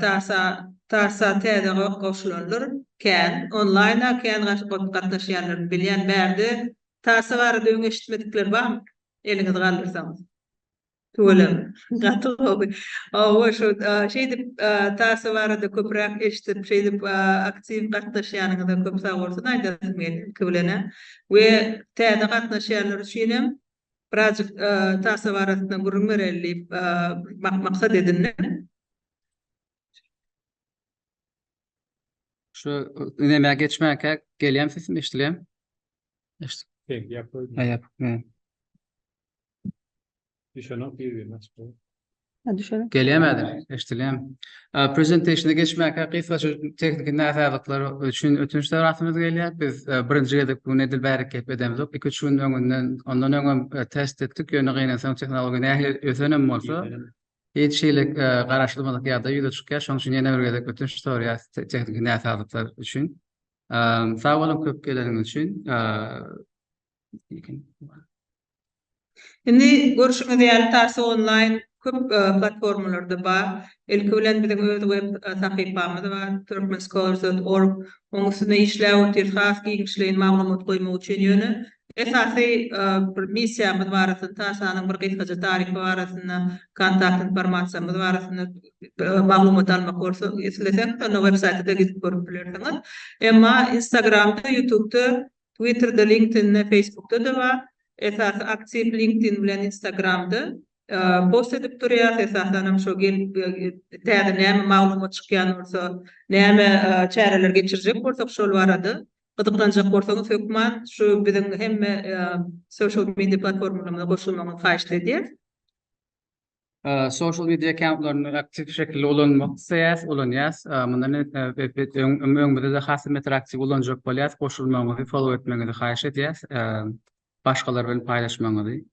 Tarsa täze goşulanlar kän. Onlaýna kän gatnaşýanlaryny bilýän. Bärde Tarsa barada öň eşitmedikler barmy? Eliňizi galdyrsaňyz. Tüweleme. Gaty gowy. Hawa şu şeýdip Tarsa barada köpräk eşidip şeýdip aktiw gatnaşýanyňyza köp sagbolsun aýdasym gelýär. Iki bilenä we täze gatnaşýanlar üçinem Birazjyk Tasa barasynda gürrüň bereli diýip maksat edindim. Şu ünemä geçmänkä gelýän sesim eşidilýär? Eşit. Tek ýap. Ýap. Düşenok ýüzüne. Ha, düşelim. Gelýär mäden? Eşdilýärmi? Ä, Prezentationa geçmäkä gysgaça tehniki näsazlyklar üçin ötünç sorasymyz gelýär. Biz e, birinji gezek bu gün edil bärik gep edemzok. Iki-üç gün öňünden, ondan öň hem e, test etdik, ýöne gynansaň tehnologiýa nähili ösen hem bolsa, hiç hili e, garaşylmadyk ýagdaý ýüze çykýar. Şonuň üçin ýene bir gezek ötünç soraýarys te- tehniki näsazlyklar üçin. Ä, Sag boluň köp geleniňiz üçin. Ä, Indi görşüňiz ýaly Tars Online köp platformalarda bar. Ilki bilen biziň öz web sahypamyz bar, Turkmenscholar.org. Oň üstünde işläp otyrys has giňişleýin maglumat goýmak üçin. Ýöne esasy bir missiýamyz barasynda, Tarsanyň bir gysgaça taryhy barasynda, kontakt informasiýamyz barasynda maglumat almak bolsa, isleseňiz onda websaýta-da gidip görüp bilersiňiz. Emma Instagramda, Ýutubda Twitterde, LinkedIn'de, Facebook'da da bar. Esasy aktiw LinkedIn bilen Instagram'da post edip durýas. Esasanam şo gelip täze näme maglumat çykýan bolsa, näme çäreler geçirjek bolsak şol barada gyzyklanjak bolsaňyz hökman şu biziň hemme social media platformalarymyza goşulmagyňyzy haýyşt edýäs. Sosial media akkauntlaryny aktiw şekilde ulanmak isleýäs, ulanýas. Mundan öňümizde-de has hem beter aktiw ulanjak bolýas. Goşulmagyňyzy, follow etmegiňizi haýyş edýäs. Başgalar bilen paýlaşmagyňyzy.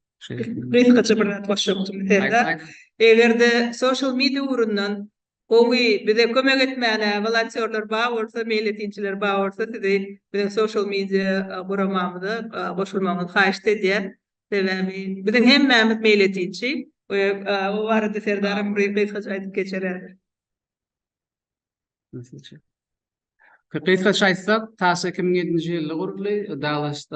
Gysgaça bir zat goşjakdym Serdar. Eger-de sosial media ugrundan gowy bize kömek etmäne wolontýorlar bar bolsa, meýletinçiler bar bolsa, sizi biziň sosial media guramamyza goşulmagyňyzy haýyşt edýäs. Sebäbi biziň hemmämiz meýletinçi we o barada Serdaram bir gysgaça aýdyp geçerer. Gysgaça aýtsak, TASS iki müň ýedinji ýylda guruldy, Dallas,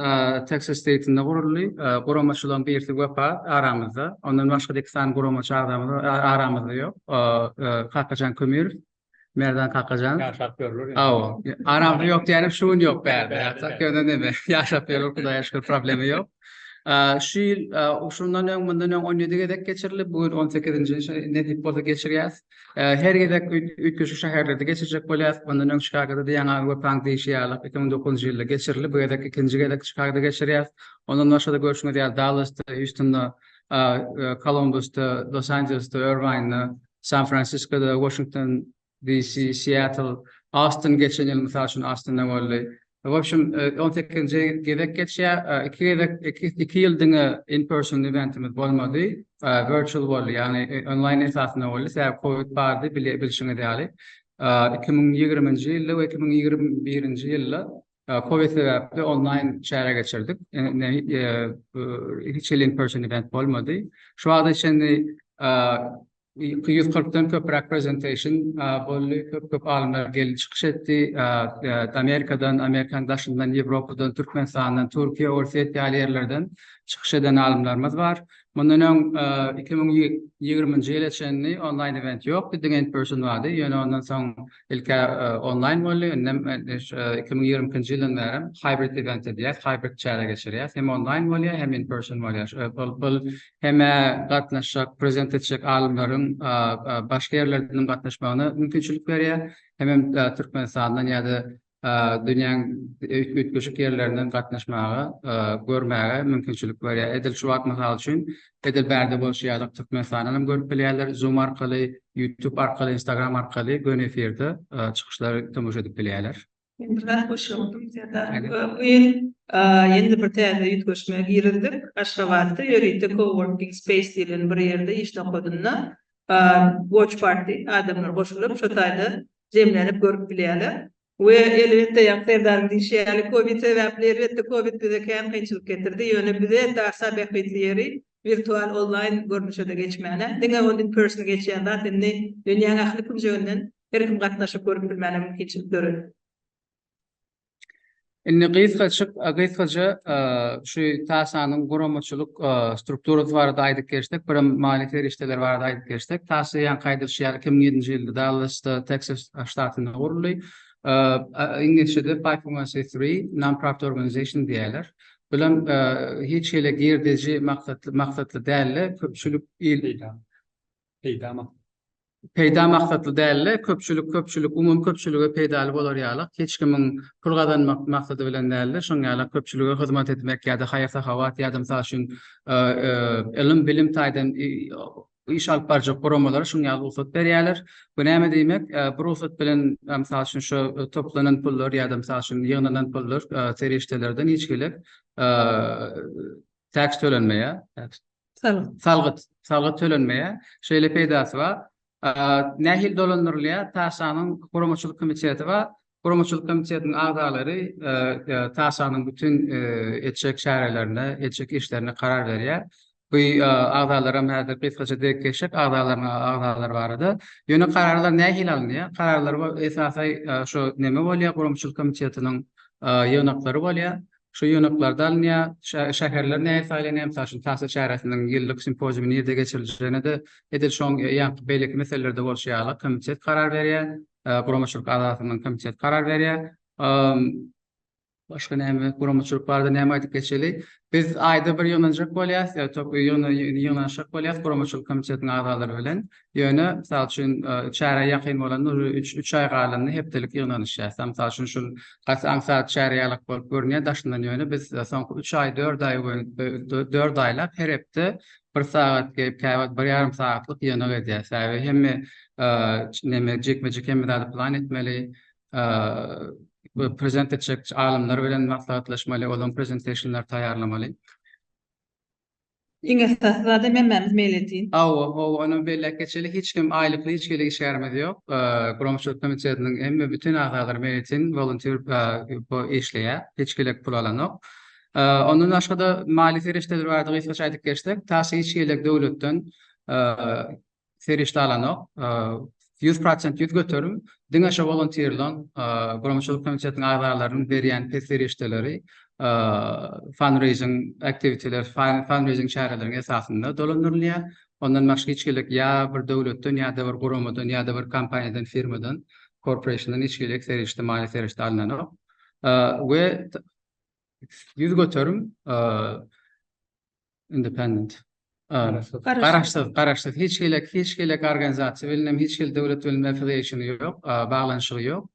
Teksas steýtinde guruldy. Guramaçylaryň birisi Wepa aramyzda, ondan başga-da iki sany guramaçy agzamyz aramyzda ýok, Kakajan Kömirow Merdan Kakajan. Yaşap görülür. Aw, aramda yok diyelim şu gün yok bärde. Ýatak ýöne neme, yaşap görülür Hudaýa şükür problemi yok. Şu ýyl şundan öň mundan öň 17 gezek geçirilip, bu gün 18-nji nesip bolsa geçirýäs. Her gezek üýtgeşik şäherlerde geçirjek bolýas. Mundan öň Çikagoda ýaňa Wepaň diýşi ýaly 2009-njy ýylda geçirilip, bu gezek ikinji gezek Çikagoda geçirýäs. Ondan başga-da görşüňiz ýaly Dallasda, Hýustunda, Kolumbusda, Los Anjelesde, Irwinde, San Fransiskoda, Washington DC, Seattle, Austin geçen ýyl mysal üçin Austinda boldy. W opşum 18-nji gezek geçýär. Iki gezek iki iki ýyl diňe in person eventimiz bolmady. Virtual boldy, ýagny onlaýn esasynda boldy. Sebäbi covid bardy, bilşiňiz ýaly. 2020-nji ýylda we 2021-nji ýylda Covid sebäpli onlaýn çäre geçirdik. Hiç hili in person event bolmady. Şu wagta çenli ýüz kyrkdan köpräk presentation boldy. Köp köp alymlar geldi çykyş etdi. Amerikadan, Amerikanyň daşyndan, Ýewropadan, Türkmenistandan, Türkiýe, Orsýet ýaly ýerlerden çykyş eden alymlarymyz bar. Mundan öň iki müň ýigrimi ýyla çenli onlaýn event ýokdy, diňe in person bardy. Ýöne ondan soň Ilk-ä onlaýn boldy, indem iki müň ýigrimi ikinji ýyldan bäri hybrid event edýäs, hybrid çäre geçirýäs. Hem onlaýn bolýar, hem in person bolýar. Ol hem gatnaşjak, prezent etjek alymlaryň başga ýerlerden hem gatnaşmagyna mümkinçilik berýär, hemem Türkmenistandan ýa-da dünýäň üýtgeşik ýerlerinden gatnaşmaga, görmäge mümkinçilik berýär. Edil şu wagt, mysal üçin, edil bärde bolşy ýaly, Türkmenistandan hem görüp bilýärler, Zoom arkaly, YouTube arkaly, Instagram arkaly göni efirde çykyşlary tomaşa edip bilýärler. Men bir zat goşýardym, Serdar. Bu ýyl ýene-de bir täze üýtgeşmä girizdik. Aşgabatda ýörite co-working space diýlen bir ýerde iş nokadyna Watch Party, adamlar goşulyp, şo taýda jemlenip görüp bilýärler. We, elbetde, ýa Serdaryň diýşi ýaly, covid sebäpli, elbetde, covid bize kän kynçylyk getirdi, ýöne bize indi asa bähbitli ýeri, wirtual, onlaýn görnüşe-de geçmäne, diňe ol in person geçýän zat indi dünýäň ähli künjeginden her kim gatnaşyp görüp bilmäne mümkinçilik döredip. Indi gysgaçyk, gysgaça şu TASA-nyň guramaçylyk strukturasy barada aýdyp geçsek, birem maliýe serişdeleri barada aýdyp geçsek, TASA ýaňky aýdylyşy ýaly, iki müň ýedinji ýylda Dallasda, Teksas ştatynda guruldy. Iňlisçede five oh one c three, non-profit organization, diýýärler. Bilen hiç hili girdeji maksatly, maksatly däl-de, köpçülik il, peýda maksatly. Peýda maksatly däl-de, köpçülik, köpçülik, umumy köpçülige peýdaly bolar ýalyk, hiç kimiň pul gazanmak maksady bilen däl-de, şoň ýaly köpçülige hyzmat etmek ýa-da haýyr-sahawat ýa-da, mysal üçin, ylym-bilim taýdan iş alyp barjak guramalara şuň ýaly rugsat berýärler. Bu näme diýmek? Bu rugsat bilen, mysal üçin, şu toplanan pullar ýa-da, mysal üçin, ýygnanan pullar serişdelerden hiç hili taks tölenmeýär. Salgyt. Salgyt. Salgyt tölenmeýär. Şeýle peýdasy bar. Nähili dolandyrylýar? TAŞA-nyň guramaçylyk komiteti bar. Guramaçylyk komitetiniň agzalary TAŞA-nyň bütin etjek çärelerine, etjek işlerine karar berýär. Bu agzalar hem häzir gysgaça dek geçsek, agzalaryň agzalary barada. Ýöne kararlar nähili alynýar? Kararlar esasan şu neme bolýar, guramaçylyk komitetiniň ýygnaklary bolýar. Şu ýygnaklarda alynýar. Şäherler nädip saýlanýar? Mysal üçin, Tahsil çäresiniň ýyllyk simpoziumy nirde geçiriljegine-de edil şoň ýaňky beýleki meselelerde bolşy ýaly komitet karar berýär, guramaçylyk agzasynyň komiteti karar berýär. Başga näme, guramaçylyk barada näme aýdyp geçeli? Biz aýda bir ýygnanjak bolýarys, ýa-da ýygnanyşjak bolýarys guramaçylyk komitetiniň agzalary bilen. Ýöne, mysal üçin, çärä ýakyn bolanda, ujy üç, üç aý galanda hepdelik ýygnanyş ýasa. Mysal üçin, şul gaty aňsat çäre ýalak bolup görünýär daşyndan, ýöne biz soňky üç aý, dört aý we dört aýlap her hepde bir sagat gelip, käwagt bir ýarym sagatlyk ýygnak edýär. Sebäbi hemme neme, jikme-jik hemme zady plan etmeli, prezent etjek alymlar bilen maslahatlaşmaly, olaryň prezentationlaryny taýýarlamaly. Iň esasy zadam hemmämiz meýletin. Hawa, hawa, ondan beýläk geçeli hiç kim aýlykly hiç hili işgärimiz ýok. Guramaçylyk komitetiniň hemme bütin agzalary meýletin, wolontýr işleýär. Hiç gelek pul alanok. Ondan başga-da maliýe serişdeleri barada gysgaça aýdyp geçsek, tas hiç gelek döwletden serişde alanok. Ýüz prosent ýüz göterim diňe şo wolontirlaň, guramaçylyk komitetiniň agzalarynyň berýän pes serişdeleri fundraising activity-ler, fundraising çäreleriň esasynda dolandyrylýar. Ondan başga hiç hili ýa bir döwletden, ýa-da bir guramadan, ýa-da bir kompaniýadan, firmadan, korporationdan hiç hili serişde, maliýe serişde alynanok. We ýüz göterim independent, garaşsyz, garaşsyz, garaşsyz, hiç hili, hiç hili organizasiýa bilen hem, hiç hili döwlet bilen affiliation ýok, baglanyşygy ýok.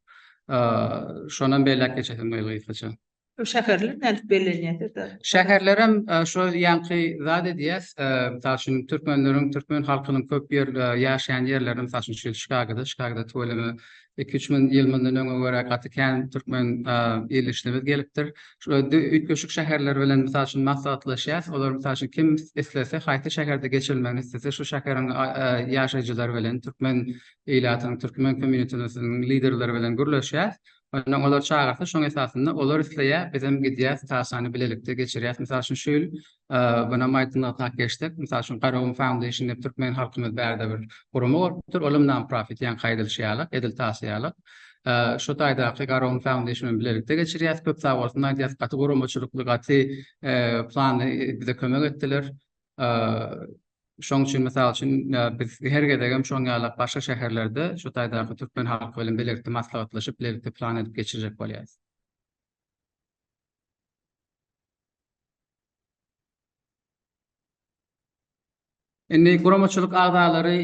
Şonam belläp geçesim geldi gysgaça. Şäherler nädip bellenýär? Şäherler hem şu ýaňky zat edýär. Mysal üçin, türkmenleriň, türkmen halkynyň köp ýer, ýaşaýan ýerleri, mysal üçin, Çikagoda, Çikagoda tüweleme iki üç müň ýyl mundan öňe görä gaty kän türkmen ildeşlerimiz gelipdir. Üýtgeşik şäherler bilen mysal üçin maslahatlaşýas. Olar mysal üçin kim islese, haýsy şäherde geçirilmegini islese, şu şäheriň ýaşaýjylary bilen, türkmen ilatynyň, türkmen kommýunitesiniň liderleri bilen gürleşýäs. Onsoň olar çagyrsa, şoň esasynda olar isleýär, bizem gidýäs, taslany bilelikde geçirýäs. Mysal üçin, şu ýyl Günäm aýtmagyna geçsek, mysal üçin, Garagum Foundation diýip türkmen halkymyz bärde bir gurama bolupdyr. Olam non-profit, ýaňky aýdylyşy ýaly, edil tasy ýaly. Şu taýdaky Garagum Foundation bilen bilelikde geçirýäs. Köp sag bolsun aýdýas, gaty guramaçylykly, gaty planly bize kömek etdiler. Şoň üçin, mysal üçin, biz her gezegem şoň ýalak başga şäherlerde şu taýdaky türkmen halky bilen bilelikde maslahatlaşyp, bilelikde plan edip geçirjek bolýas. Indi guramaçylyk agzalary,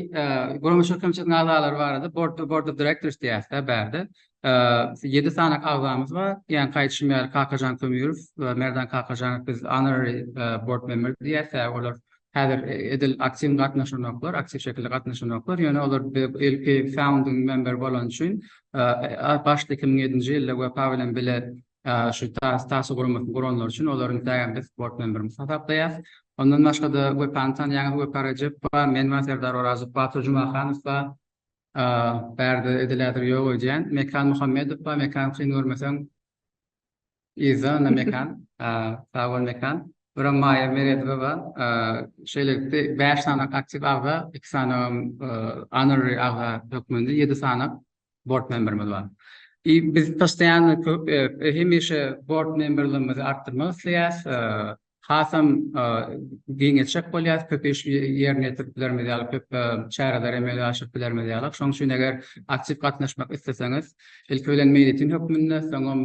guramaçylyk komitetiň agzalary barada Board Board of Directors diýýäs dä bärde. Ýedi sany agzamyz bar. Ýa gaýdyşym ýaly Kakajan Kömeýew, Merdan Kakajan biz Honorary Board Member diýýäs dä olar häzir edil aktiw gatnaşanoklar, aktiw şekilde gatnaşanoklar. Ýöne olar ilki founding member bolany üçin başda iki müň ýedinji ýylda wepa bilen bile şu taso guramasyny guranlar üçin olaryň däbinde sport bilen birimiz hasaplaýarys. Ondan başga-da Wepany tanýaňyz, Wepa Rejepowa, men we Serdar Orazow, Batyr Jumahanow bar. Bärde edilädir ýok öýdýän. Mekan Muhammedow bar. Mekan kyn görmeseň, yzda onda Mekan. Sag bol Mekan. Bir hem Maýa Meredowa bar. Şeýlelikde bäş sany aktiw agza, iki sany honorary agza hökmünde ýedi sany bord memberimiz bar. I biz postoýanno köp hemişe bord memberligimizi artdyrmak isleýäs. Hasam giňeltjek bolýas, köp iş ýerine ýetirip bilerimiz ýaly, köp çäreleri emele aşyryp bilerimiz ýaly. Şoň üçin eger aktiw gatnaşmak isleseňiz, ilki bilen meýletin hökmünde, soňam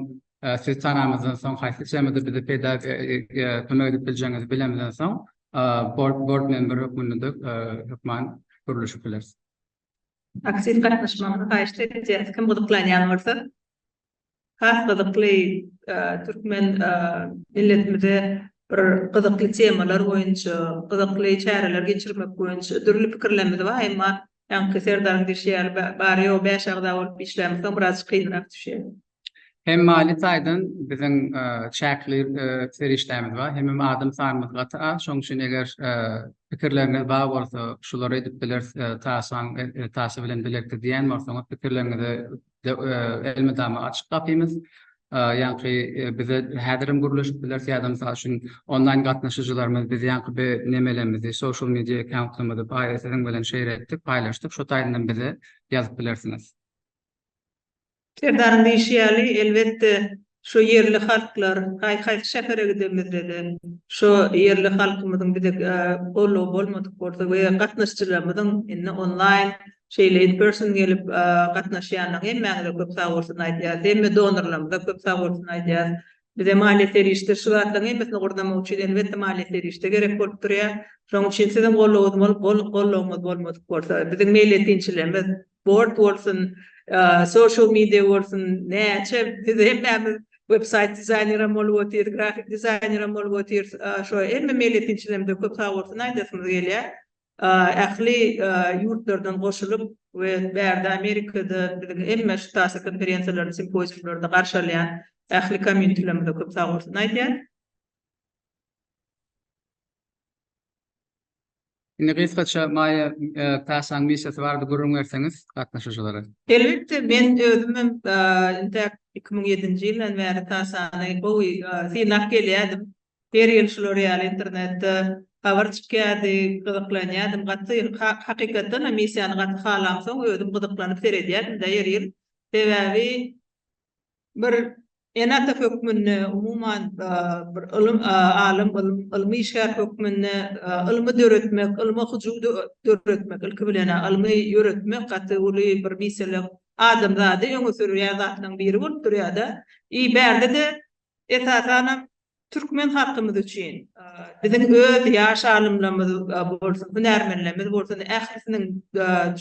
sizi tanamyzdan soň, haýsy temada bize peýda kömek edip biljegiňizi bilemizden soň, bord bord memberi hökmünde hökman gürleşip bileris. Aktiv gatnaşmagyňyzy haýyşt edýäs. Kim gyzyklanýan bolsa, has gyzykly türkmen milletimize bir gyzykly temalar boýunça, gyzykly çäreler geçirmek boýunça dürli pikirlerimiz bar. Emma ýaňky Serdaryň diýşi ýaly, bary-ýogy bäş agza bolup işlämsoň biraz kynrak düşýär. Hem maliýe taýdan biziň çäkli serişdämiz bar, hemem adam sanymyz gaty az. Şonuň üçin eger pikirleriňiz bar bolsa, şulary edip bileris, taşlaň taşy bilen bilekdir diýýän bolsaňyz, pikirleriňize elmydama açyk gapymyz. Ýaňky bize häzir hem gürleşip bileris ýa-da mysal üçin onlaýn gatnaşyjylarymyz biz ýaňky bir nemelerimizi, social media account-ymyzy siziň bilen şeýle etdik, paýlaşdyk, şo taýdan hem bize ýazyp bilersiňiz. Serdaryň diýşi ýaly, elbetde, şo ýerli halklar, haý-haýsy şähere gidemizde-de, şo ýerli halkymyzyň bize goldawy bolmadyk bolsa we gatnaşyjylarymyzyň indi onlaýn, şeýle in person gelip gatnaşýanlaryň hemmäňize köp sagbolsun aýdýarys. Hemme donorlarymyza köp sagbolsun aýdýarys. Bize maliýe serişde şu zatlaryň hemmesini gurnamak üçin, elbetde, maliýe serişde gerek bolup durýar. Şonuň üçin siziň goldawyňyz bolup, goldawyňyz bolmadyk bolsa, biziň meýletinçilerimiz, board bolsun, social media bolsun, näçe biz hemmämiz websaýt dizaýnerem bolup otyrys, grafik dizaýnerem bolup otyrys, şo hemme meýletinçilerimize köp sag bolsun aýdasymyz gelýär. Ähli ýurtlardan goşulyp we bärde Amerikada biziň hemme şu TASA konferensiýalaryny, simpoziumlaryny garşy alýan ähli komýunitilerimize köp sag bolsun aýdýan. Indi gysgaça Maýa Kasaň missiýasy barada gürrüň berseňiz gatnaşyjylara. Elbetde men özümem intäk iki müň ýedinji ýyldan bäri Kasany gowy synlap gelýärdim. Her ýyl şular ýaly internetde habar çykýardy, gyzyklanýardym gaty. Hakykatdanam missiýany gaty halamsoň özüm gyzyklanyp seredýärdim-de her ýyl. Sebäbi bir ene-ata hökmünde, umuman, bir ylym alym, ylmy işgär hökmünde ylmy döretmek, ylma hyjuw döretmek, ilki bilen, ylmy ýöretmek gaty uly bir meselem, adamzady öňe sürýän zatlaryň biri bolup durýar-da. I bärde-de, esasanam, Türkmen halkymyz üçin, biziň öz ýaş alymlarymyz bolsun, hünärmenlerimiz bolsun, ählisiniň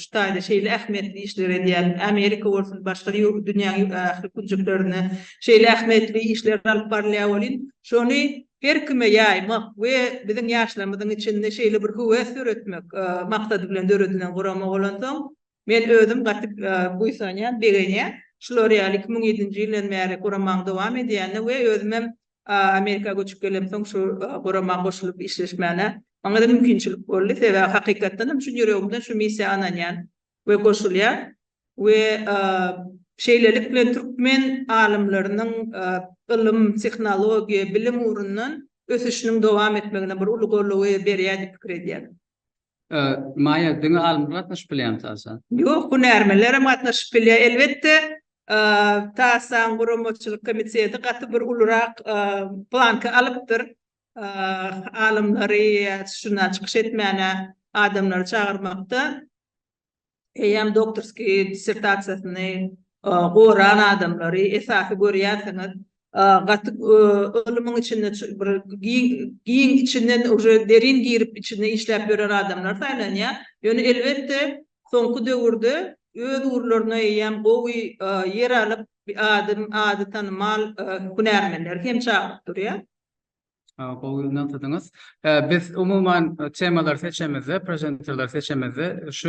şu taýda şeýle ähmiýetli işleri edýän, Amerika bolsun, başga dünýäniň ähli künjeklerinde şeýle ähmiýetli işler alyp barylýar welin, şony her kime ýaýmak we biziň ýaşlarymyzyň içinde şeýle bir höwes döretmek maksady bilen döredilen gurama bolansoň, Men özüm gaty buýsanýan, begenýän. Şular ýaly iki müň ýedinji ýyldan bäri guramaň dowam edýänine we özümem Amerika göçüp gelemsoň şu gurama goşulyp işleşmäne maňada mümkinçilik boldy. Sebäbi hakykatdanam çyn ýüregimden şu missiýa ynanýan we goşulýan we şeýlelik bilen türkmen alymlarynyň ylym, tehnologiýa, bilim ugrundan ösüşiniň dowam etmegine bir uly goldaw berýär diýip pikir edýän. Maýa, diňe alymlar gatnaşyp bilýärmi TASA? Ýok, hünärmenler hem gatnaşyp bilýär. Elbetde, TASA-nyň guramaçylyk komiteti gaty bir ulurak planka alypdyr. Alymlary, ýa şunda çykyş etmäne adamlary çagyrmakda. eýýäm doktorskiý dissertasiýasyny goran adamlary esasy görýärsiňiz. Gaty ylymyň içinde bir giň içinden uje derin girip içinde işläp ýören adamlar saýlanýar. Ýöne elbetde soňky döwürde öz ugurlaryna eýýäm gowy ýer alyp, ady tanymal hünärmenleri hem çagyryp durýar. Gowy nygtadyňyz. Biz umuman temalary seçemizde, prezenterleri seçemizde şu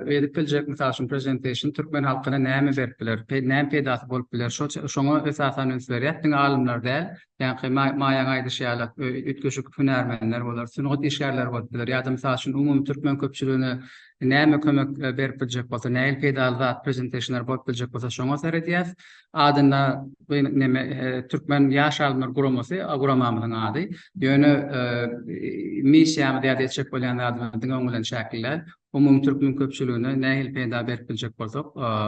edip biljek, mysal üçin, presentation türkmen halkyna näme berip biler, näme peýdasy bolup biler, şoňa esasan üns berýäs. Diňe alymlar däl, ýaňky Maýaň aýdyşy ýaly, üýtgeşik hünärmenler bolar, sungat işgärleri bolup biler ýa-da, mysal üçin, umumy türkmen köpçüligine näme kömek berip biljek bolsa, nähili peýdaly zat, prezentationlar bolup biljek bolsa, şoňa seredýäs. adynda bu neme türkmen ýaş alymlar guramasy guramamyzyň ady. Ýöne missiýamyz ýa-da etjek bolýan zadymyz diňe oň bilen çäkli däl. Umumy türkmen köpçüligine nähili peýda berip biljek bolsak,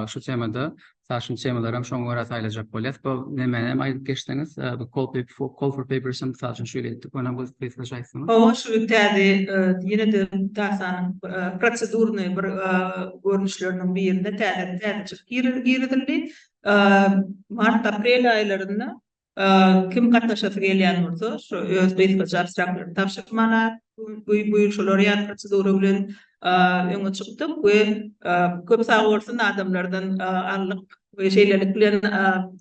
şu temada, mysal üçin temalarym şoňa görä saýlajak bolýas. Bu nemäni hem aýdyp geçseňiz, bu call for papers hem mysal üçin şeýle etdik. Ony hem gysgaça aýtsaňyz. Hawa, şu gün täze ýene-de darsanyň prosedurnyý bir görnüşleriniň birinde täze-täze girizildi. Mart-aprel aýlarynda kim gatnaşasy gelýän bolsa, şu öz gysgaça abstraktlaryny tabşyrmaly. Buýursalar ýaly prosedura bilen öňe çykdyk we köp sag bolsun adamlardan aldyk we şeýlelik bilen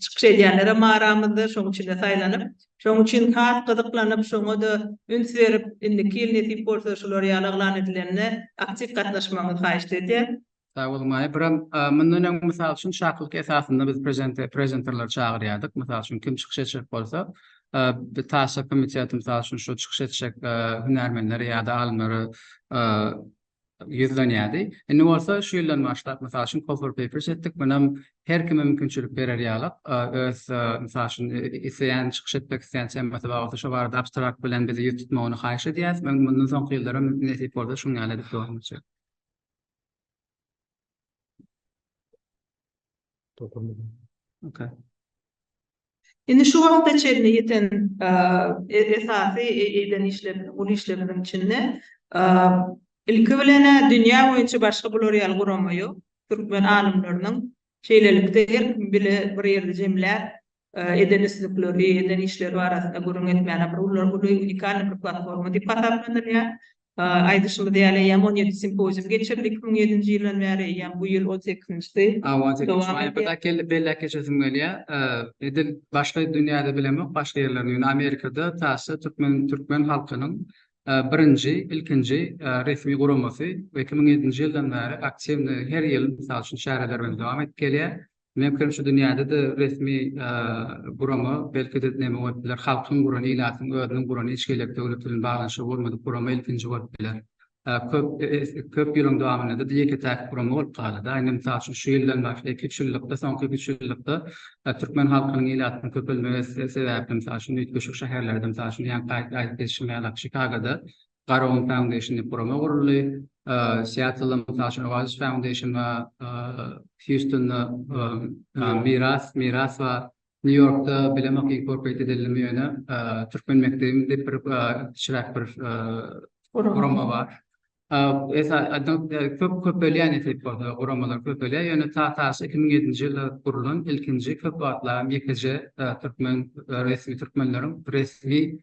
çykyş edýänlerem bar aramyzda, şonuň içinde saýlanyp, şonuň üçin has gyzyklanyp, şoňa-da üns berip, indiki ýyl nesip bolsa şular ýaly yglan edilende aktiw gatnaşmagyňyzy haýyşt edýän. Sag bol Maýa. Biram, mundan öň, mysal üçin, çakylyk esasynda biz prezente, prezenterleri çagyrýardyk. Mysal üçin, kim çykyş etjek bolsa, bir taýçak komiteti, mysal üçin, şu çykyş etjek hünärmenleri ýa-da alymlary ýüzlenýärdi. Indi bolsa şu ýyldan başlap, mysal üçin, Coffee Papers etdik. Munam her kime mümkinçilik berer ýaly, öz, mysal üçin, isleýän, çykyş etmek isleýän temasy bar bolsa, şo barada abstrakt bilen bizi ýüz tutmagyny haýyş edýäris. Mundan soňky ýyllar hem nesip bolsa şunuň ýaly edip dowam etjek. Indi şu wagta çenli ýeten esasy eden işlerimiz, uly işlerimiziň içinde ilki bilen-ä dünýä boýunça başga bular ýaly gurama ýok. Türkmen alymlarynyň şeýlelikde her kim bile bir ýerde jemläp, eden üstlikleri, eden işleri barasynda gürrüň etmäne bir uly, uly unikalny bir platforma diýip hasaplanylýar. Aýdyşymyz ýaly, eýýäm on ýedi simpozium geçirildi iki müň ýedinji ýyldan bäri, eýýäm bu ýyl on sekizinjisi. Hawa, on sekizinji maýa-da däk geldi, belläp geçesim gelýär. Edil başga dünýäde bilemok, başga ýerlerde, ýöne Amerikada TASS türkmen türkmen halkynyň birinji, ilkinji resmi guramasy we iki müň ýedinji ýyldan bäri aktiwny her ýyl, mysal üçin, çäreler bilen dowam edip gelýär. Meňkem şu dünýäde-de resmi gurama, belki-de näme bolup biler, halkyň guran, ilatyň özüniň guran hiç hili döwlet bilen baglanyşygy bolmadyk gurama ilkinji bolup biler. Köp, köp ýylyň dowamynda-da ýeke-täk gurama bolup galdy-da. Indi, mysal üçin, şu ýyldan başga iki, üç ýyllykda, soňky iki, üç ýyllykda türkmen halkynyň, ilatynyň köpelmegi sebäpli, mysal üçin, üýtgeşik şäherlerde, mysal üçin, ýaňky aýdyp geçişim ýaly, Çikagoda Garagum Foundation diýip gurama guruldy. Seattle-da, mysal üçin, Oasis Foundation bar, Hýustunda Miras, Miras bar. Nýu-Ýorkda Bilim Oky Inkorporate edildi, ýöne Türkmen mekdebi diýip bir kiçiräk bir gurama bar. Köp köpelýän ýetik bolsa, guramalar köpelýär, ýöne Tatas iki müň ýedinji ýylda gurlan ilkinji köp wagtlaram ýekeje türkmen resmi türkmenleriň resmi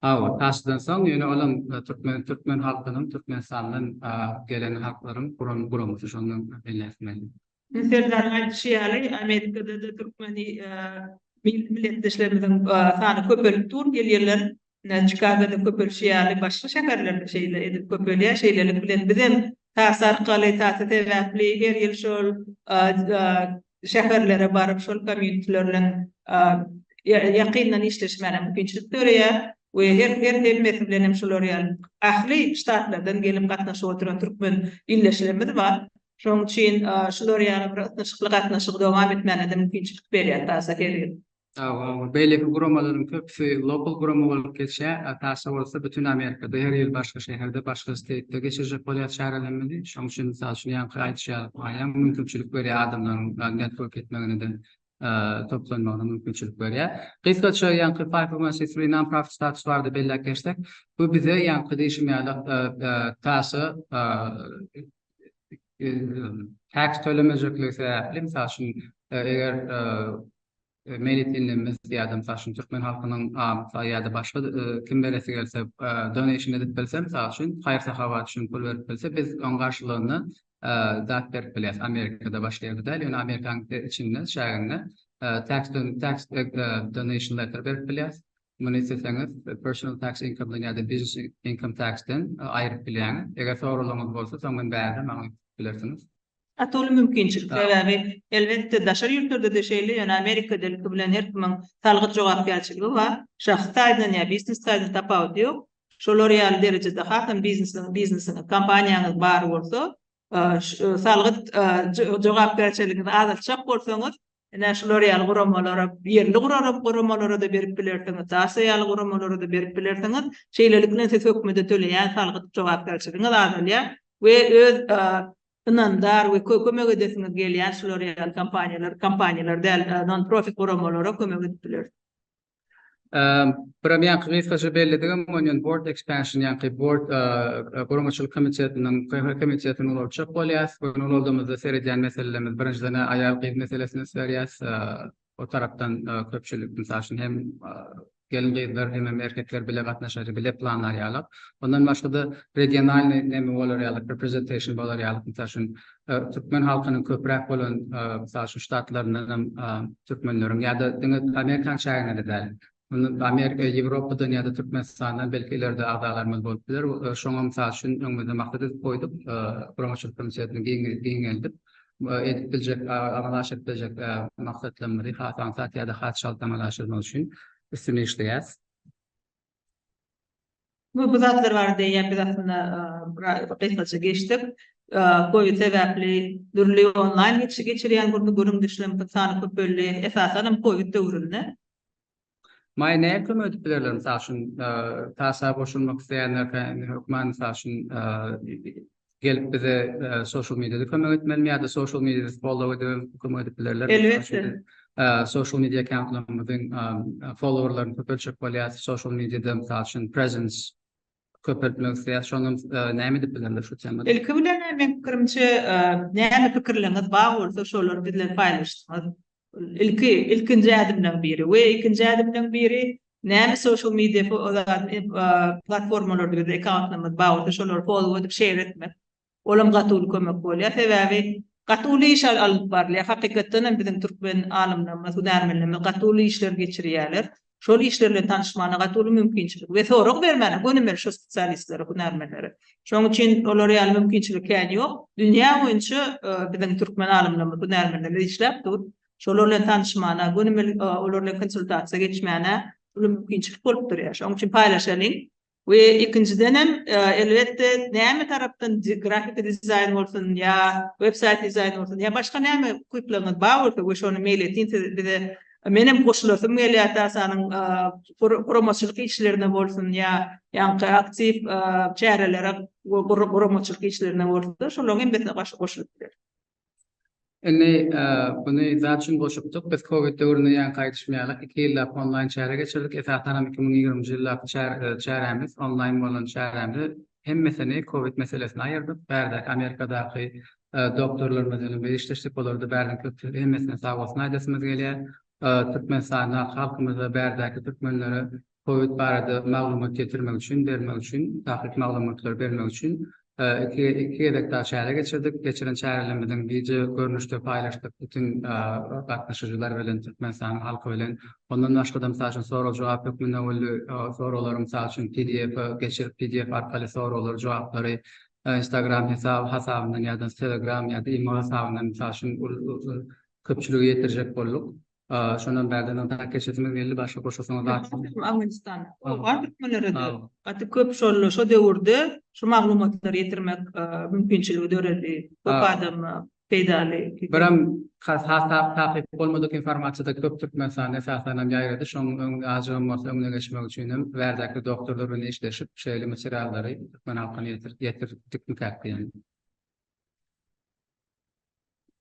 Hawa, Taşdan soň ýöne olam türkmen türkmen halkynyň Türkmenistandan gelen halklaryň guran guramasy şondan belläpmeli. Serdar aýdyşy ýaly Amerikada-da türkmen milletdeşlerimiziň sany köpelip dur gelýärler. Çikagoda köpelişi ýaly başga şäherlerde şeýle edip köpelýär. Şeýlelik bilen bizem Taýsy arkaly, taýsy sebäpli her ýyl şol şäherlere baryp, şol komiýteler bilen ýakyndan işleşmäne mümkinçilik döreýär we her hemmesi bilen hem şular ýaly ähli ştatlardan gelip gatnaşyp oturan türkmen ildeşlerimiz bar. Şonuň üçin şular ýaly bir ysnyşykly gatnaşygy dowam etmäne-de mümkinçilik berýär TASA her ýyl. Sagbolun. Beýleki guramalaryň köpüsi lokal gurama bolup geçýär, a Tasa bolsa bütin Amerikada her ýyl başga şäherde, başga steýtde geçirjek bolýar çärelerimizi. Şoň üçin mysal üçin ýaňky aýdyşýar, aýam mümkinçilik berýär adamlaryň network etmegine-de, toplanmagyna mümkinçilik berýär. Gysgaça ýaňky five hundred one c three non-profit status barada belläp geçsek, bu bize ýaňky diýşim ýaly Tasa tax tölemejekligi sebäpli, mysal üçin eger Meýletinle mis ýadam saçyn türkmen halkynyň amsa ýada başga kim beresi gelse donation edip bilse mysal üçin haýyr sahabat üçin pul berip bilse biz oň garşylygynda zat berip bilýäs amerikada başga ýerde däl ýöne amerikanyň içinde çäginde tax donation letter berip bilýäs Muny isleseňiz Personal Tax Income-dan ýa-da Business Income Tax-den aýryp bilýäňiz. Eger soraglaryňyz bolsa, soň men bärde maňa aýdyp bilersiňiz. Gaty uly mümkinçilik, sebäbi elbetde daşary ýurtlarda-da şeýle, ýöne Amerikada ilki bilen her kimiň salgyt jogapkärçiligi bar. Şahsy taýdan ýa biznes taýdan tapawudy ýok. Şolar ýaly derejede hasam biznesiniň, biznesiňiz, kompaniýaňyz bar bolsa, salgyt jogapkärçiliginizi azaltjak bolsaňyz, ine, şular ýaly guramalara, ýerli guramalara-da berip bilersiňiz, DASA ýaly guramalara-da berip bilersiňiz. Şeýlelik bilen siz hökümete töleýän salgyt jogapkärçiligiňiz azalýar we öz ynamdar we kömek edesiňiz gelýän şular ýaly kompaniýalar, kompaniýalar däl, non-profit guramalara kömek edip bilersiňiz. Buram ýaňky gysgaça belledigim onýan board expansion ýaňky board guramaçylyk komitetiniň köne komitetini ulaltjak bolýas. Köne ulaldymyzda seredýän meselelerimiz birinjiden aýal gyz meselesini üns berýäs. O tarapdan köpçülik mysal üçin hem gelin gyzlar hem hem erkekler bile gatnaşar bile planlar ýaly. Ondan başga-da regionalnyý neme bolar ýaly representation bolar ýaly. Mysal üçin türkmen halkynyň köpräk bolan, mysal üçin, ştatlaryndan hem türkmenleriň ýa-da diňe amerikan çäginde-de däl, Amerika, Ýewropadan ýa-da Türkmenistandan belki ileride agzalarymyz bolup biler. Şoňa mysal üçin öňümizde maksat edip goýduk, guramaçylyk komitetini giňeldip, edip biljek, amala aşyryp biljek maksatlarymyzy has aňsat ýa-da has çalt amala aşyrmak üçin üstüni işleýäris. Bu bu zatlar barada ýa biz aslynda gysgaça geçdik. Covid sebäpli dürli onlaýn geçi geçirýän gürli gürüm düşlem sany köpeldi. Esasan hem covid döwründe. Maýa näme kömek edip bilerler? Mysal üçin, TASA goşulmak isleýänler hökman mysal üçin gelip bize e, social mediada kömek etmelimi ýa-da social mediada follow edip kömek edip bilerler. Elbetde. E, social media accountlarymyzyň e, followerlaryny köpeltjek bolýar. Social mediada mysal üçin presence köpeltmek isleýär. Şondan e, näme edip bilerler şu temada? Ilki bilen meň pikirimçe, e, näme pikirleriňiz bar bolsa, şolary bizden paýlaşdyňyz. ilki ilkinji ädimleň biri we ikinji ädimleň biri näme social media platformalarda bize ekantymyz bagly şolary follow edip şeýer etmek olam gaty uly kömek bolýar sebäbi gaty uly iş alyp barylýar hakykatdanam biziň türkmen alymlarymyz hünärmenlerimiz gaty uly işler geçirýärler şol işler bilen tanyşmagyna gaty uly mümkinçilik we sorag bermäne gönümeli şo spesialistlere, hünärmenlere. Şoň üçin olar ýaly mümkinçilik kän ýok. Dünýä boýunça biziň türkmen alymlarymyz, hünärmenlerimiz işläp dur. Şolar bilen tanyşmagyna, gönümel olar bilen konsultasiýa geçmäne uly mümkinçilik bolup durýar. Şoň üçin paýlaşalyň. We ikinjidenem, elbetde, näme tarapdan grafiki dizaýn bolsun, ýa web saýt dizaýny bolsun, ýa başga näme ukyplaryňyz bar bolsa we şony meýil etseň siz bize menem goşulasym gelýär TASA-nyň guramaçylyk işlerine bolsun, ýa ýaňky aktiw çärelere guramaçylyk işlerine bolsun, şolaryň hemmesine goşulyp bileris. Indi buny zat üçin goşupdyk, biz covid döwründen ýaňy gaýdyşmaýarlyk, iki ýyllap onlaýn çäre geçirdik, esasanam iki müň ýigriminji ýyldaki çärämiz, onlaýn bolan çärämizi hemmesini covid meselesine aýyrdyk, bärdäki Amerikadaky doktorlarymyz bilen biz işleşdik, olarda bäriniň köpçüligi hemmesine sagbolsun aýdasymyz gelýär, Türkmenistanda halkymyza bärdäki türkmenlere Covid barada maglumat getirmek üçin, bermek üçin, takyk maglumatlary bermek üçin iki iki gezek daha çäre geçirdik. Geçiren çärelerimiziň gije görnüşde paýlaşdyk bütün gatnaşyjylar bilen, Türkmenistanyň halky bilen. Ondan başga-da, mysal üçin, sorag-jogap hökmünde boldy. Soraglar, mysal üçin, PDF geçirip, PDF arkaly soraglar, jogaplary Instagram hesap hasabyndan ýa-da Telegram ýa-da imo hasabyndan, mysal üçin, köpçülige ýetirjek bolduk. Aa şondan bärde no tak keşesimiz geldi başga goşasyňyz barmy. Awganistan. Ol bar türkmenlere de. Gaty köp şol şo döwürde şu maglumatlary ýetirmek mümkinçiligi döredi. Köp adama peýdaly. Birem has has tap takyk bolmadyk informasiýada köp türkmenistan esasan hem ýaýrady. Şoň öň azjygam bolsa öňüne geçmek üçin hem bärdäki doktorlar bilen işleşip şeýle materiallary türkmen halkyna ýetir ýetirdik diýýän.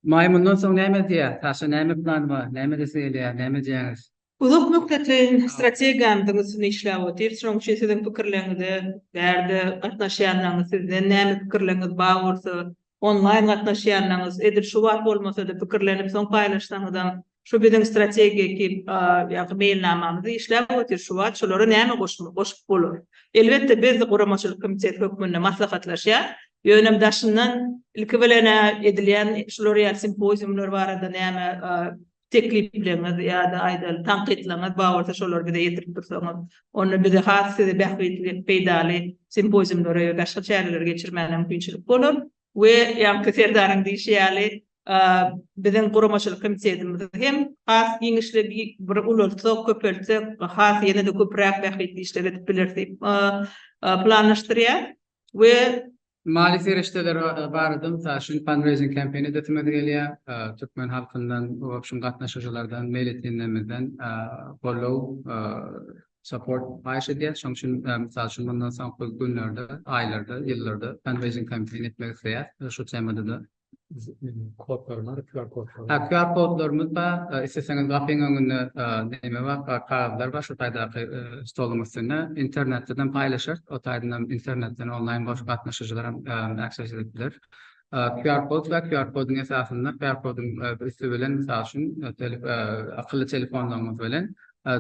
Maý mundan soň näme edýär? Saşa näme plan bar? Näme edesi gelýär? Näme edýäňiz? Uzak möhletleýin strategiýamyzyň üstünde işläp otyrys. Şonuň üçin siziň pikirleriňize, bärde gatnaşýanlaryňyz sizden näme pikirleriňiz bar bolsa, onlaýn gatnaşýanlaryňyz edil şu wagt bolmasa-da pikirlenip soň paýlaşsaňyzam şu biziň strategik ýa-da meýilnamamyzy işläp otyr, şu wagt şolara näme goşmak, goşup bolar. Elbetde, biz guramaçylyk komiteti hökmünde maslahatlaşýas, ýöne daşyndan ilki bilen edilýän şular ýaly simpoziumlar barada näme teklipleriňiz ýa-da aýdaly tankytlaryňyz bar bolsa, şolary bize ýetirip dursaňyz, onda bize has size bähbitli, peýdaly simpoziumlary we başga çäreleri geçirmäge mümkinçilik bolar. we ýaňky Serdaryň diýşi ýaly, biziň guramaçylyk komitetimizi hem has giňişli bir ulaltsak, köpeltsek, has ýene-de köpräk bähbitli işler edip bileris diýip planlaşdyrýar we. Maliýe serişdeleri barada, mysal üçin, fundraising campaign edesimiz gelýär, türkmen halkyndan, o şum gatnaşyjylardan, meýletinlerimizden goldaw support haýyş edýär. Şonuň üçin, mysal üçin, mundan soňky günlerde, aýlarda, ýyllarda fundraising kampaniýa etmek isleýäris. Şu temada-da. Kodlaryň bar, QR kodlary. Ha, QR kodlarymyz bar. Isleseňiz, gapyň öňünde näme bar, kagyzlar bar, şu taýdaky stoluň üstünde. Internetden hem paýlaşarys. O taýdan hem internetden onlaýn goşup gatnaşyjylar hem access edip biler. QR kod we QR kodyň esasynda QR kodyň üsti bilen mysal üçin akylly telefonlaryňyz bilen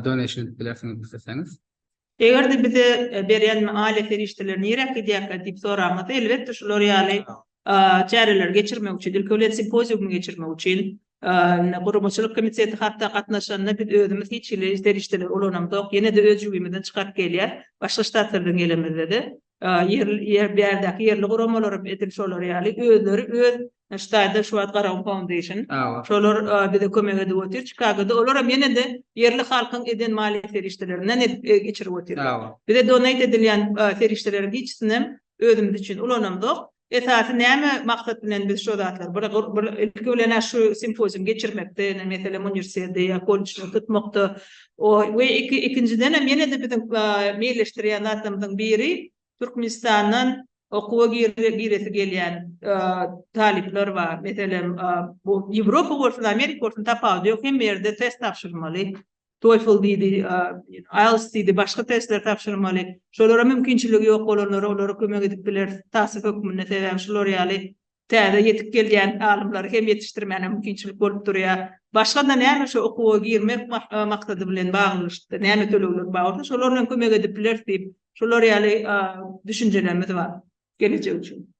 donation edip bilersiňiz isleseňiz. Eger-de bize berýän maliýe serişdeleri nirä gidýärkä diýip soraňyzda, elbetde şular ýaly çäreleri geçirmek üçin, ilki bilen simpoziumy geçirmek üçin guramaçylyk komiteti hatda gatnaşanda biz özümiz hiç hili serişdeleri ulanamzok, ýene-de öz jübimizden çykaryp gelýär, başga ştatlardan gelenimizde-de. Ýer bärdäki ýerli guramalaram edil şolar ýaly özleri öz ştaýda şu wagt Garawa Foundation şolar bize kömek edip otyr Çikagoda olaram ýenede ýerli halkyň eden maliýe serişdelerinden edip geçirip otyrlar bize donate edilýän serişdeleriň hiçisinem özümiz üçin ulanamzok Esasy näme maksat bilen biz şo zatlar bir bir ilki bilen-ä şu simpozium geçirmekde, meselem uniwersiteti ýa kollejleri tutmakda o we iki ikinjidenem ýene-de biziň meýilleşdirýän zatlarymyzyň biri Türkmenistandan okuwa giresi gelýän talyplar bar. Meselem bu Ýewropa bolsun, Amerika bolsun tapawudy ýok hemme ýerde test tabşyrmaly. TOEFL diýdi, IELTS diýdi, başga testler tabşyrmaly. Şolara mümkinçiligi ýok bolanlara olara kömek edip bileris takyk hökmünde. Sebäbi şular ýaly täze ýetip gelýän alymlary hem ýetişdirmäne mümkinçilik bolup durýar. Başga-da näme şu okuwa girmek maksady bilen baglyşykda näme tölegler bar bolsa, şolar bilen kömek edip bileris diýip, şolar ýaly düşünjelerimiz bar geljek üçin.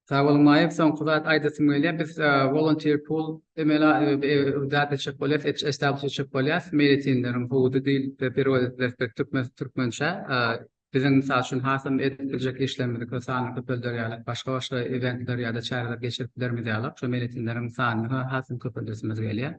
Sag boluň Maýyp, soňky zat aýdasym gelýär, biz volunteer pool emele zat etjek bolýas, establish etjek bolýas, meýletinleriň howudy diýlip perewod ediler türkmençä, biziň mysal üçin hasam edip biljek işlerimizi köp sany köpeldýär ýaly, başga-başga eventler ýa-da çäreler geçirip bilermiz ýaly, şo meýletinleriň sanyny hasam köpeldesimimiz gelýär.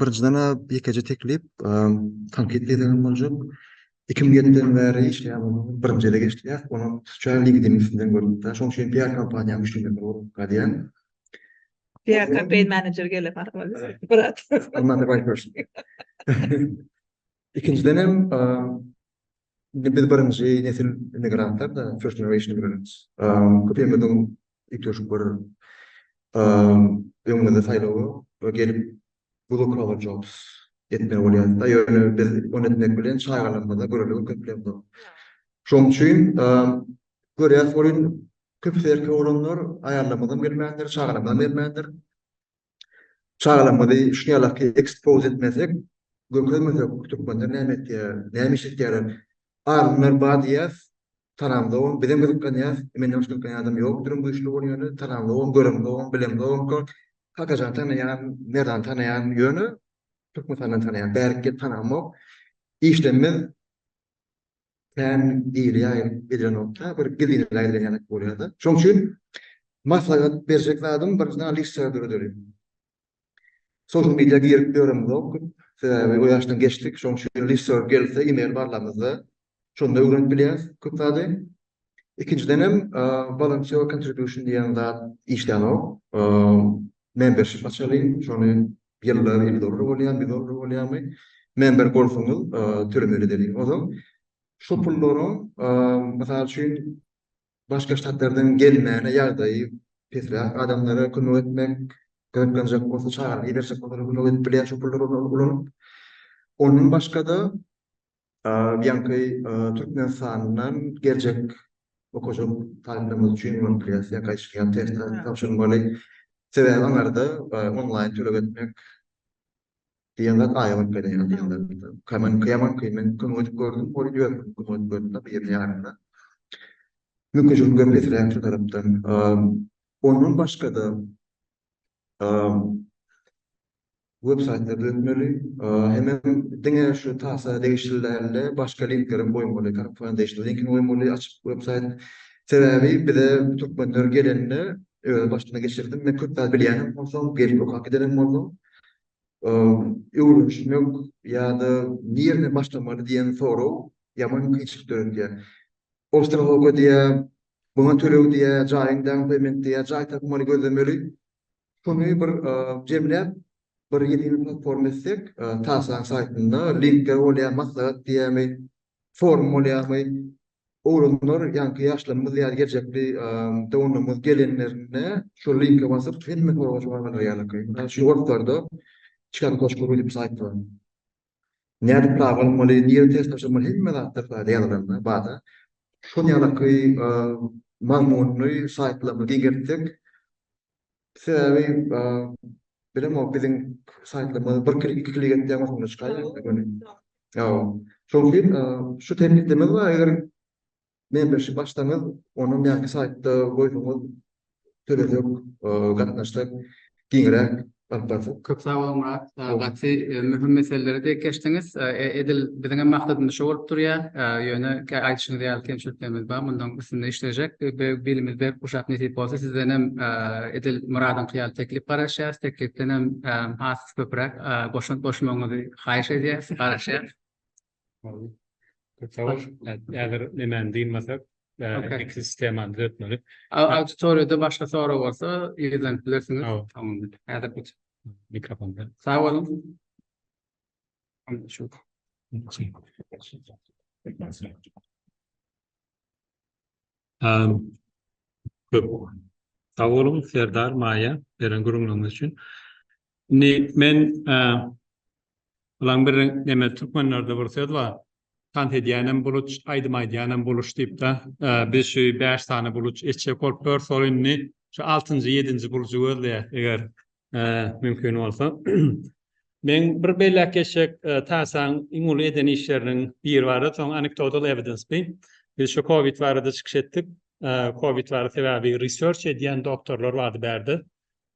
Birinjiden-ä ýekeje teklip, tankyt gezegem boljak. Iki müň ýediden bäri işleýän bolsam, birinji ele geçdirýäs. Ony sosial LinkedIn üstünden görüp-de, şonuň üçin PR kompaniýa müşderilerine ugruk galýan. PR kampaniýa menejer gele barmaly. Brat. Another white person. Ikinjiden hem indi biz birinji nesil immigrantlar-da, first generation immigrants. Köpimiziň üýtgeşik bir öňümizde saýlaw ýok we gelip blue collar jobs etmeli bolýarys-da, ýöne biz ony etmek bilen çagalarymyza göreldigi köplenok. Şonuň üçin görýäris, köpüsi erkek oglanlar aýallarymyzam bermändir, çagalarymyzam bermändir. Çagalygymyzy şu ýalaky ekspose etmesek, görkezmesek türkmenler näme etýär, näme iş etýärler? Alymlar bar diýýäs, tanamzogam, bizem gyzyklanýas, menden başga gyzyklanýan adam ýokduryn güýçli bol ýöne, tanamzogam, göremzogam, bilemzogam, Kakajany tanaýan, Merdany tanaýan ýöne Türkmenistany tanaýan bärik ýer tanamok. Işlemez. kän hili ýaýyp gidýänokda, bir gizlineli aýdylýan ýaly bolýar-da. Şonuň üçin maslahat berjek zadym bir žurnalistika dörederin. Sosial media girip ýöremzok köp, sebäbi o ýaşdan geçdik. Şonuň üçin žurnalistika gelse, e-mail barlamyzda, şonda öwrenip bilýäris köp zady. Ikinjiden hem volunteer contribution diýen zat işlänok. Membership açalyň, şony Ýyllar ýyl zorry bolýar bir zorry bolýarmy men bir bolsaňyz türmeli deli ozal şu pullaryň mysal üçin başga ştatlardan gelmäne ýagdaýy pesräk adamlara kömek etmek gyzyklanjak bolsa çagyryp iberjek kömek edip bilýär şu pullary ulanyp ondan başgada Bianky Türkmenistandan geljek okujak talyplarymyz üçin bolup bilýär. Sen gaýşyňa test tabşyrmaly. Sebäbi aňarda onlaýn töleg etmek diýen zat aýa bolup gelýär diýenler. Kaman kaman kimin kömek edip gördüm. Ol ýöne kömek edip gördüm de biriniň ýanynda. Mümkinçilik gepleträkdi tarapdan. Ondan başga-da web saýty düzetmeli, hemem diňe şu tasa degişli dälde başga linklerem goýmaly, korrupsiýa degişli linkini goýmaly açyp web saýt. Sebäbi bize türkmenler gelende öz başyma geçirdim, men köp zat bilýänem bolsam, gelip okap gidenem boldum. Öwrenişmek ýa-da nireden başlamaly diýen sorag ýaman kynçylyk döredýär. Ol sırada diýýär, Muňa töleg diýýä, jaýyň down payment diýýä, jaý tapmaly, gözlemeli. Şuny bir jemläp, bir ýedinä platforma etsek, Tasaň saýtynda linkler bolýa, maslahat diýýämi, forum bolýamy, oglanlar, ýaňky ýaşlarymyz ýa-da geljekki downlarymyz gelenlerinde şol linke basyp hemme soraga jogap alarýarlar. Mysal üçin, ortlarda Çikan.ru diýip saýt bar. Nädip razy bolmaly, nirä ters başlamaly hemme zat bir saýda ýazylanda bada. Şol ýalyky mazmunly saýtlarymyzy giňeltsek. Sebäbi bilemok biziň saýtlarymyz bir klik iki klik etseň maşynda çykaýýar. Ýa şol üçin şu tekliplerimiz bar eger Membership açsaňyz, ony näme saýtda goýsaňyz töledik, gatnaşsak giňräk alyp barsak. Köp sag bol Murat. Gaty möhüm meseleleri dek geçdiňiz. Edil biziňem maksadymyz şo bolup durýar. Ýöne aýdyşyňyz ýaly kemçiliklerimiz bar. Mundan üstünde işlejek. Bilimiz berk guşap nesip bolsa sizdenem edil Muradyňky ýaly teklip garaşýarys. Teklipdenem has köpräk goşant goşmagyňyzy haýyş edýäris, garaşýarys. Häzir nemäni diýmesek, iki sistemany düzetmeli. Auditoriýada başga sorag bolsa, ýerden bilersiňiz. Häzir bu mikrofonda. Sag boluň. Köp sag boluň Serdar, Maýa beren gürrüňleriňiz üçin. Indi men bir neme türkmenlerde bir söz bar. Tans edýänem buluç, aýdym aýdýanem buluç diýipdä. Biz şu bäş sany buluç eçjek bolup ýörüs. Ol indi şu altynjy, ýedinji bulujy gözleýär. Eger mümkin bolsa. Men bir belläp geçjek TASA-nyň iň uly eden işleriniň biri bardy, soň anekdotal evidence bi. Biz şu covid barada çykyş etdik. Covid barada sebäbi research edýän doktorlar bardy bärde.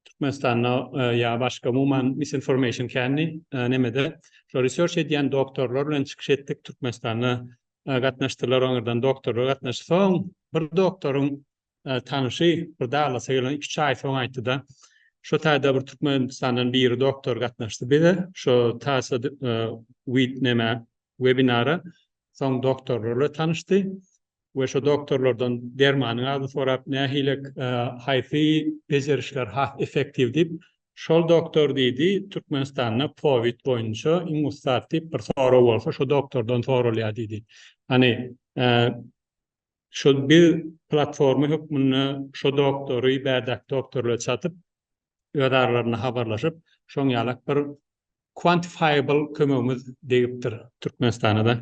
Türkmenistanda ýa başga umuman misinformation kändi nemede. Şo research edýän doktorlar bilen çykyş etdik, Türkmenistanda gatnaşdylar oňerden doktorlar gatnaşdy. Soň bir doktoryň tanyşy bir daglasy gelen iki çaý soň aýtdy-da, Şo taýda bir Türkmenistandan biri doktor gatnaşdy bize, şo tasa wid nämä, webinara, soň doktorlar bilen tanyşdy we şo doktorlardan dermanyň adyny sorap, nähili, haýsy bejerişler has effektiw diýip, şol doktor diýdi, Türkmenistanda powid boýunça iň ussat diýip bir sorag bolsa şo doktordan soralýar diýdi. Hany, Şol bir platforma hökmünde şo doktory, bärdäki doktorlary çatyp, öz aralarynda habarlaşyp, şoň ýalak bir quantifiable kömegimiz degipdir Türkmenistana-da.